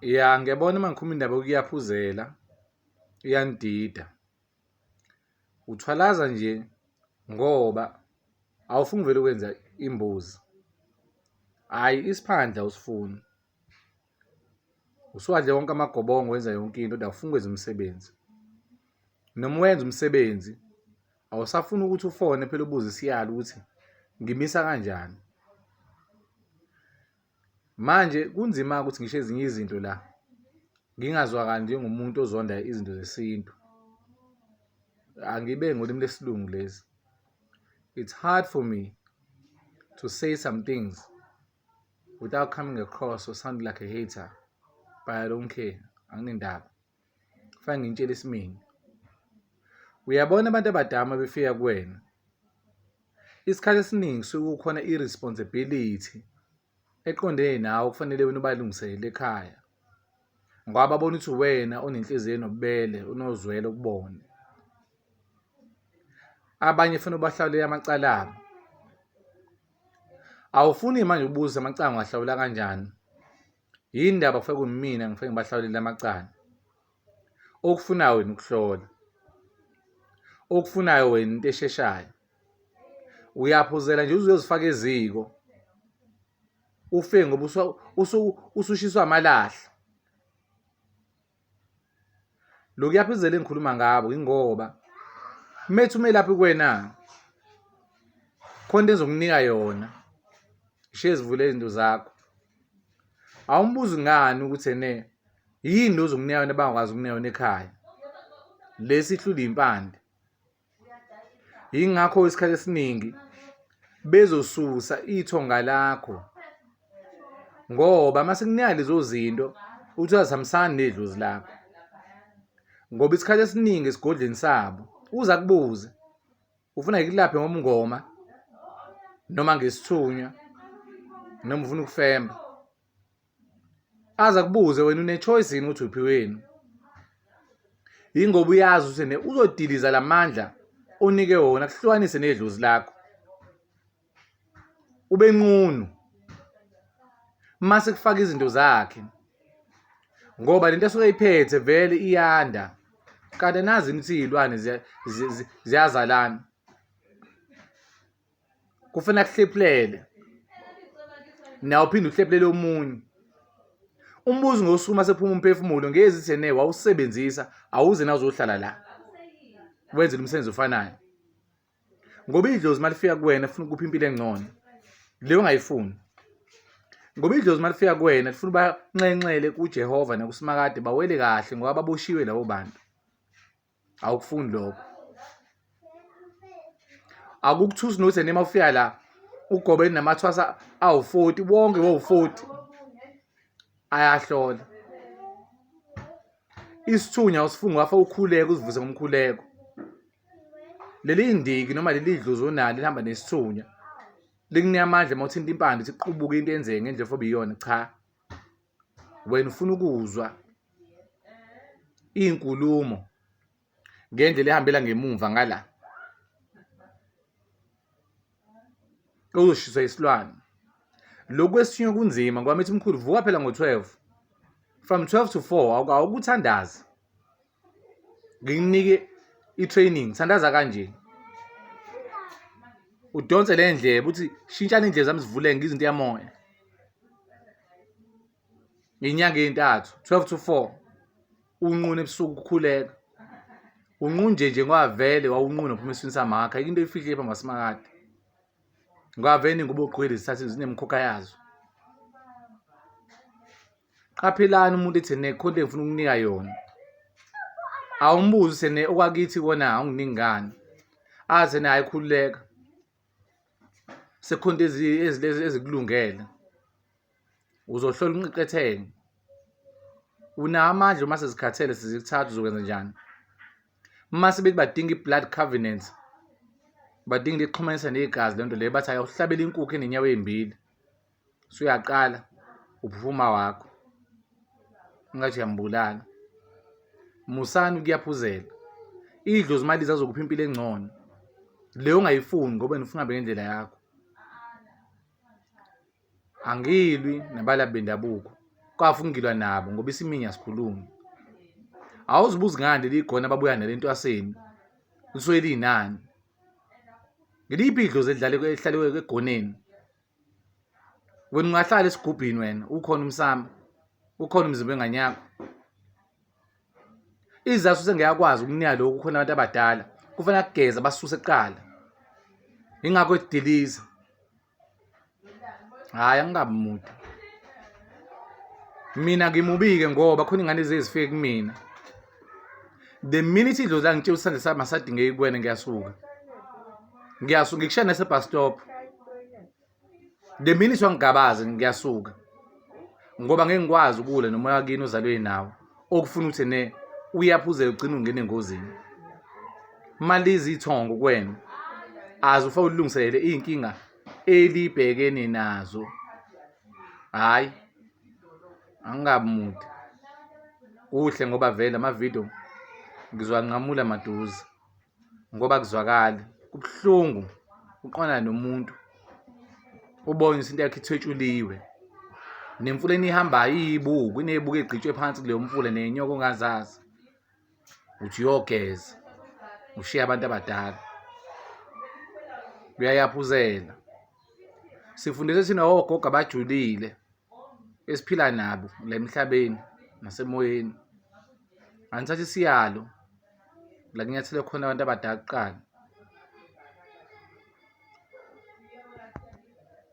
Ya ngiyabona uma ngikhuluma indaba yokuyaphuzela iyangidida. Uthwalaza nje ngoba awufuni uvele ukwenza imbuzi. Hhayi isiphandla usifuni. Usuwadle wonke amagobongo wenza yonke into kodwa awufuni ukwenza umsebenzi. Noma wenza umsebenzi awusafuni ukuthi ufone phela ubuze isiyalo ukuthi ngimisa kanjani. Manje kunzima-ke ukuthi ngisho ezinye izinto la ngingazwakali njengomuntu ozonda izinto zesintu. Angibe ngolimi lesilungu lezi. It's hard for me to say some things without coming across or sounding like a hater. But I don't care. Anginendaba. Fanele ngintshele isimini. Uyabona abantu abadama befika kuwena. Isikhathi esiningi suke kukhona i-responsibility eqondene nawe kufanele wena ubalungiselele ekhaya. Ngoba babona ukuthi wena onenhliziyo enobubele, unozwelo kubona. Abanye fanele ubahlawulele amacala abo. Awufuni manje ubuze amacala ngiwahlawula kanjani? yini ndaba kufike kumina ngifike ngibahlawulele amacala okufunayo wena ukuhlola okufunayo wena into esheshayo uyaphuzela nje uzozifaka eziko ufe ngoba usushiswa amalahle lokuya phizela engikhuluma ngabo ingoba methi umelaphi kwena khona into engizokunika yona ishiye zivule izinto zakho awumbuzi ngani ukuthi ene yini lozonginika yona bangakwazi ukunika yona ekhaya lesi ihlula impande yingakho isikhathi esiningi bezosusa ithonga lakho ngoba uma sekunika lezo zinto uthi azihambisani nedlozi lakho ngoba isikhathi esiningi esigodleni sabo uza kubuze ufuna ngikulaphe ngomngoma noma ngesithunywa noma ufuna ukufemba aze akubuze wena une-choice yini ukuthi uphi wenu yingoba uyazi ukuthi ne uzodiliza la mandla onike wona kuhlukanise nedlozi lakho ube nqunu mase kufaka izinto zakhe ngoba lento esuke iphethe vele iyanda kanti nazi imithi iyilwane ziyazalana kufanele akuhlephulele nawe uphinde uhlephulele omunye umbuzo ngosuku masephuma umphefumulo ngezi thene wawusebenzisa awuze nawuzohlala la wenzela umsebenzi ofanayo ngoba idlozi malifika kuwena funa ukupha impilo engcono leyo ungayifuni ngoba idlozi malifika kuwena lifuna ubanxenxele kuJehova nakuSimakade bawele kahle ngoba baboshiwe labo bantu awukufuni lokho akukuthusi nokuthi nima ufika la ugobe namathwasa awu-40 bonke bowu-40 ayahlola isithunya usifunga wafa ukhuleko uzivuze ngomkhuleko leli ndiki noma leli dluzi onalo lihamba nesithunya likunika amandla uma uthinta impande ukuthi kuqubuke into enzeke ngendlela ofobe iyona cha wena ufuna ukuzwa iy'nkulumo ngendlela ehambela ngemumva ngala uzoshiswa isilwane lokhu esinye kunzima ngoba mithi mkhulu vuka phela ngo-12 from 12 to 4 awukuthandazi ngikunike i-training sandaza kanje udonse le ndleba uthi shintshani indlela zami zivuleke ngizinto yamoya ngenyanga ezintathu 12 to 4 unquna ebusuku ukukhuleka unqunje nje ngoba vele wawunquna uphuma eswini samakha into efihle phambi kwasimakade ngoba vele ingubo ogqwele zithathe zinemkhokha yazo qaphelani umuntu ethi ne content ngifuna ukunika yona awumbuzi sene okwakithi kona awunginingani aze naye khululeka sekhonto ezilezi ezikulungele uzohlola unqiqethenge unawo amandla uma sezikhathele sizikuthatha uzokwenza njani uma sebethi badinga i-blood covenant badinga lixhumanisa negazi lento leyo bathi ayohlabela inkukhu enenyawo ezimbili suyaqala uphuma wakho ngathi uyambulala musani ukuyaphuzela idlozi imali zazokupha impilo engcono leyo ungayifuni ngoba nifuna hambe ngendlela yakho angilwi nabalabi bendabuko kwafu ngilwa nabo ngoba isiminya asikhulumi awuzibuzi ngani leli gona ababuya nale ntwaseni lisuke liyinani ngiliphi idlozi elihlale egoneni wena ungahlala esigubhini wena ukhona umsamo ukhona umzimba engane yakho izasu sengiyakwazi ukunika lokhu khona abantu abadala kufanele kugeza basuse kuqala ingakho ediliza hayi angingabi mude mina ngimubike ngoba khona ingane ezifike kumina the minute idlozi langitshela isandla sami asadingeki kuwena ngiyasuka ngiyasuka ngikushiya nasebus stop the minute wangigabaze ngiyasuka ngoba ngeke ngikwazi ukule noma yakini ozalwe nawo okufuna ukuthi ne uyaphuzela ugcina ungena engozini malizi ithongo kwena azi ufa ulungiselele izinkinga elibhekene nazo hayi angingabi mude kuhle ngoba vele amavidiyo ngizwanqamula maduze ngoba kuzwakali kubuhlungu uqonana nomuntu ubone ukuthi into yakhe ithwetshuliwe nemfula enihambayo iyibuku inebuku egqitshwe phansi kuleyo mfula nenyoko ongazazi uthi uyogeza ushiye abantu abadala uyayaphuzela sifundise thina ogogo abajulile esiphila nabo la emhlabeni nasemoyeni angithatha isiyalo la kunyathele khona abantu abadala kuqala.